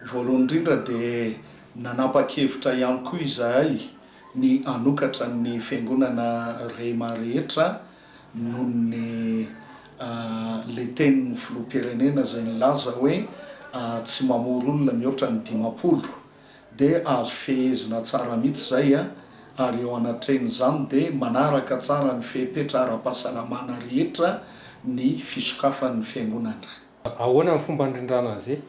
Voalohany indrindra dia nanapa-kevitra ihany koa izahay ny hanokatra ny Fiangonana Rhema rehetra noho ny ilay tenin'ny Filoham-pirenena izay nilaza hoe tsy mamory olona mihoatra ny dimampolo. Dia azo fehezina tsara mihitsy izay ary eo anatrehan'izany dia manaraka tsara ny fepetra ara-pahasalamana rehetra ny fisokafan'ny Fiangonana. Ahoana ny fomba handrindrana an'izay?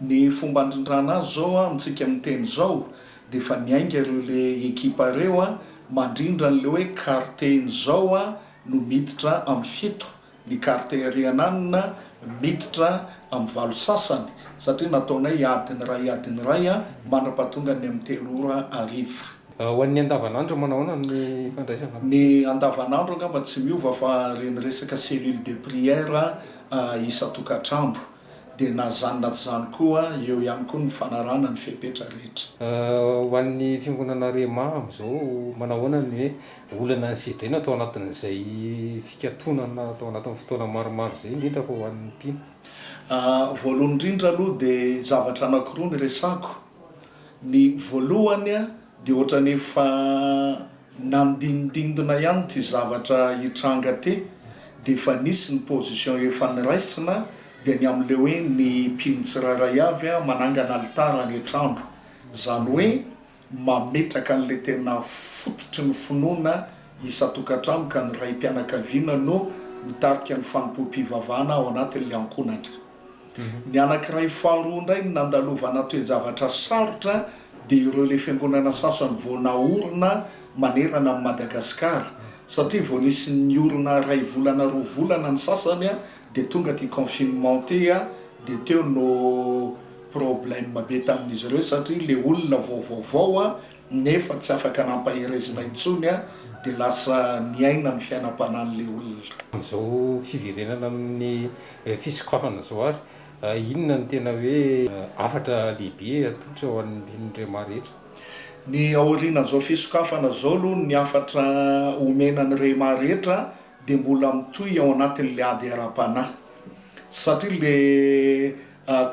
Ny fomba handrindrana azy zao a, amintsika miteny zao de efa niainga reo le ekipa reo a, mandrindra an'le hoe quartier-ny zao a no miditra am fito, ny quartier ery ananona miditra am valo sasany satria nataonay adiny iray adiny iray a mandrapatonga ny am telo ora hariva. Ho an'ny andavanandro manao ahoana ny fandraisana? Ny andavanandro angamba tsy miova fa reny resaka cellule de prière isan-tokantrambo, dia na izany na tsy izany koa, eo ihany koa ny fanarahana ny fepetra rehetra. Ho an'ny fiangonana Rhema amin'izao, manao ahoana ny hoe olana ny sedrena tao anatin'izay fikatonana tao anatin'ny fotoana maromaro izay, indrindra fa ho an'ny mpino? Voalohany indrindra aloha dia zavatra anankiroa no resahako, ny voalohany dia ohatran'ny efa Nandinindindona ihany ty zavatra hitranga ty dia efa nisy ny position efa niraisina dia ny amle hoe ny mpino tsirairay avy manangana alitara any an-trano zany hoe mametraka anle tena fototry ny finoana isan-tokantrano ka ny raim-pianakaviana no mitarika ny fanompoam-pivavahana ao anatinle ankohonana Ny anankiray faharoa indray no nandalovana toe-javatra sarotra dia ireo ilay fiangonana sasany vao naorina manerana an'i Madagasikara satria vao nisy niorina iray volana roa volana ny sasany dia tonga ity confinement ity dia teo no problème be tamin'izy ireo satria ilay olona vao vaovao nefa tsy afaka nampaherezina intsony aho dia lasa niaina ny fiainam-panahin'ilay olona. Amin'izao fiverenana amin'ny fisokafana izao ary, inona no tena hoe hafatra lehibe atolotra ho an'ny mpianindrema rehetra? Ny aorianan'izao fisokafana izao aloha, ny hafatra omena ny rema rehetra dia mbola mitohy ao anatin'ilay ady ara-panahy. Satria ilay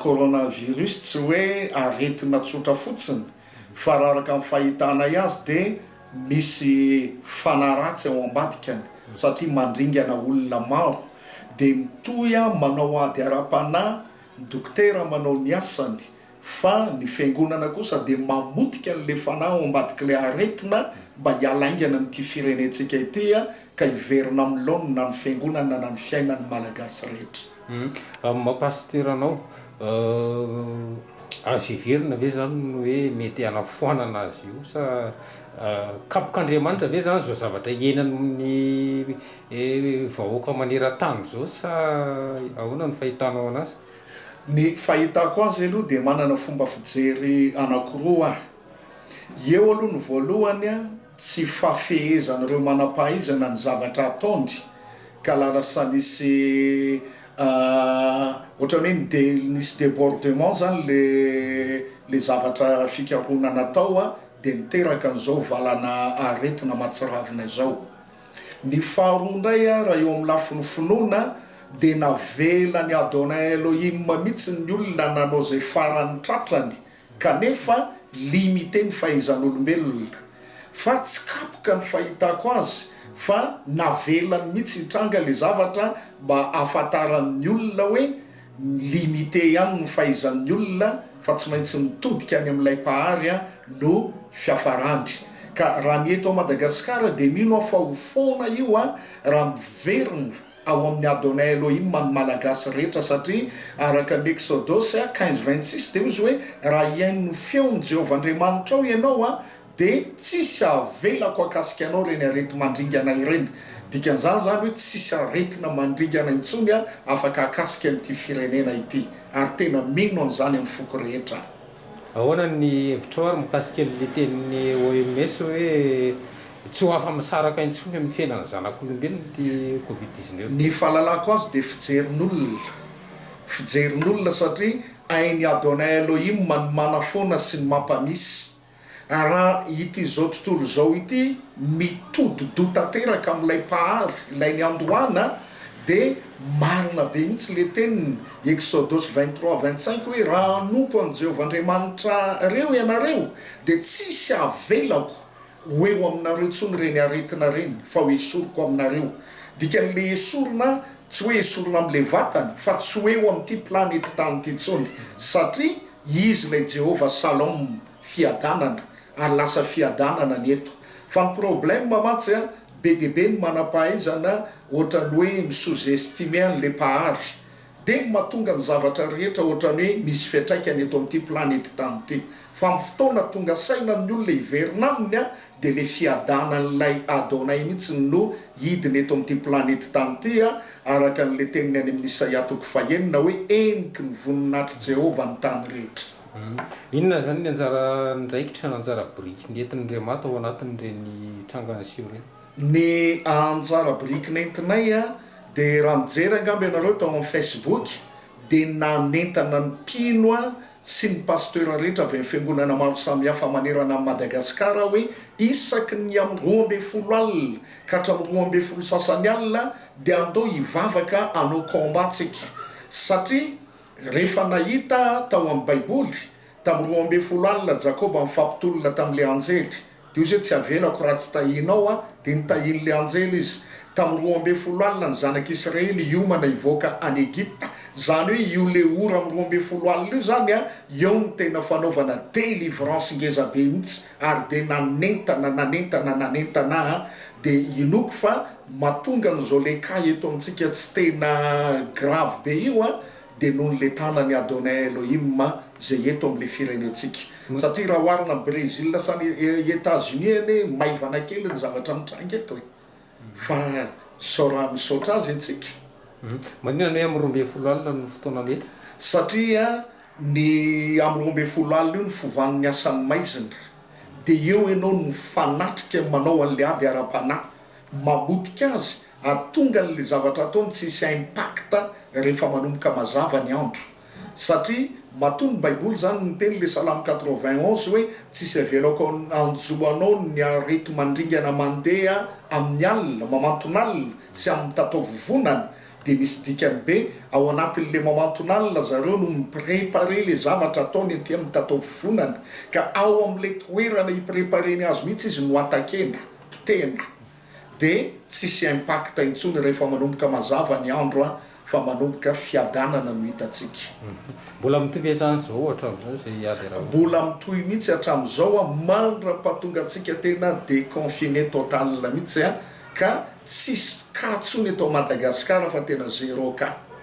coronavirus tsy hoe aretina tsotra fotsiny Fa raha araka ny fahitanay azy dia misy fanaratsy ao ambadikany satria mandringana olona maro dia mitohy manao ady ara-panahy ny dokotera manao ny asany fa ny fiangonana kosa dia mamotika an'ilay fanahy ao ambadik'ilay aretina mba hialaingana amin'ity firenentsika ity ka hiverina amin'ny laonina ny fiangonana na ny fiainan'ny malagasy rehetra. Amin'ny maha pasitera anao, azo heverina ve izany ny hoe mety hanafoanana azy io sa kapok'Andriamanitra ve izany izao zavatra iainan'ny vahoaka maneran-tany izao sa ahoana ny fahitanao anazy? Ny fahitako azy aloha dia manana fomba fijery anankiroa aho. Eo aloha ny voalohany. Tsy fahafehezan'ireo manam-pahaizana ny zavatra ataony ka lasa nisy ohatran'ny hoe nisy debordement zany le le zavatra fikarohana natao dia niteraka an'izao valana aretina mahatsiravina izao. Ny faharoa indray raha eo amin'ny lafiny finoana dia navelan'i Adonai Elohim mihitsy ny olona nanao izay farany tratrany Kanefa limite ny fahaizan'olombelona. Fa tsy kapoka ny fahitako azy fa navelany mihitsy hitranga le zavatra mba ahafantaran'ny olona hoe limite ihany ny fahaizan'ny olona fa tsy maintsy mitodika any amin'ilay Mpahary no fiafarany. Ka raha ny eto Madagascar dia mino aho fa ho foana io raha miverina. ao amin'ny Adonai Elohim an'ny Malagasy rehetra satria araka ny Exodosy quinze vingt six dia hoy izy hoe raha hihaino ny feon'i Jehovah Andriamanitrao ianao dia tsisy havelako hakasika anao ireny areti-mandringana ireny. Dikan'izany izany hoe tsisy aretina mandringana intsony afaka hakasika an'ity firenena ity ary tena mino an'izany amin'ny foko rehetra aho. Ahoana ny hevitrao ary mikasika ilay tenin'ny OMS hoe tsy ho afa-misaraka intsony amin'ny fiainan'ny zanak'olombelona ity Covid dix neuf ity? Ny fahalalako azy dia fijerin'olona. Fijerin'olona satria hain'i Adonai Elohim ny manafoana sy ny mampanisy. Raha ity izao tontolo izao ity mitododoha tanteraka amin'ilay Mpahary, ilay niandohana, dia marina be mihitsy ilay teniny, Exodos vingt trois vingt cinq, hoe, Raha hanompo an'i Jehovah Andriamanitrareo ianareo, dia tsy hisy havelako ho eo aminareo intsony ireny aretina ireny, fa hoesoriko aminareo. Dikan'ilay esorina, tsy hoe esorina amin'ilay vatany, fa tsy ho eo amin'ity planety tany ity intsony, satria Izy ilay Jehovah Salom. fiadanana ary lasa fiadanana ny eto fa ny problème mantsy a be dia be ny manampahaizana ohatrany hoe mi sous estime anle mpahary dia ny mahatonga ny zavatra rehetra ohatrany hoe misy fiatraikany eto amin'ity planety tany ity fa amin'ny fotoana tonga saina amin'ny olona hiverina aminy a dia le fiadanan'ilay adonay mihitsy no hidina eto amin'ity planety tany ity a araka an'le teniny any amin'ny isaia toko fahenina hoe heniky ny voninahitr'i jehovah ny tany rehetra. Inona izany ny anjara andraikitra na anjara biriky nentin'i Rema tao anatin'ireny tranga niseho ireny? Ny anjara biriky nentinay dia raha nijery angamba ianareo tao amin'ny Facebook dia nanentana ny mpino sy ny pasitera rehetra avy amin'ny fiangonana maro samihafa manerana an'i Madagasikara hoe isaky ny amin'ny roa ambin'ny folo alina ka hatramin'ny roa ambin'ny folo sasany alina dia andao hivavaka hanao combat tsika satria Rehefa nahita tao amin'ny Baiboly, tamin'ny roa ambin'ny folo alina, Jakoba nifampitolona tamin'ilay anjely. Dia hoy izy hoe, Tsy havelako raha tsy tahinao aho. Dia notahin'ilay anjely izy. Tamin'ny roa ambin'ny folo alina, ny zanak'i Israely hiomana hivoaka any Egypta. Izany hoe io ilay ora amin'ny roa ambin'ny folo alina io izany, eo no tena fanaovana délivrance ngeza be mihitsy. ary dia nanentana nanentana nanentana aho dia inoako fa matonga an'izao le cas eto amintsika tsy tena grave be io a dia noho le tanan'i Adonai Elohim zay eto amle firenentsika satria raha oharina am Brezil sany Etats Unis anie maivana kely ny zavatra mitranga eto e. Fa sao raha misaotra azy antsika? Maninona ny hoe amin'ny roa ambin'ny folo alina no fotoana mety? Satria ny amin'ny roa ambin'ny folo alina io no fovan'ny asan'ny maizina, dia eo ianao no mifanatrika manao an'ilay ady ara-panahy, mamotika azy, ahatonga an'ilay zavatra ataony tsy hisy impact rehefa manomboka mazava ny andro. Satria matoa ny baiboly izany miteny le salamo quatre-vingt onze hoe tsisy avelako hanjo anao ny areti-mandringana mandeha amin'ny alina, mamanton'alina sy amin'ny mitatao vovonana dia misy dikany be, ao anatin'le mamanton'alina zareo no mi-preparer le zavatra ataony aty amin'ny mitatao vovonana ka ao amin'le toerana hi-preparer-ny azy mihitsy izy no attaquer-na, potehina. dia tsisy impact intsony rehefa manomboka mazava ny andro an fa manomboka fiadanana no hitantsika. Mbola mitohy ve zany zao hatramizao izay hiady raha. Mbola mitohy mihitsy hatramizao an mandrapatonga antsika tena deconfine total mihitsy an ka tsisy cas tsony eto Madagascar fa tena zero cas.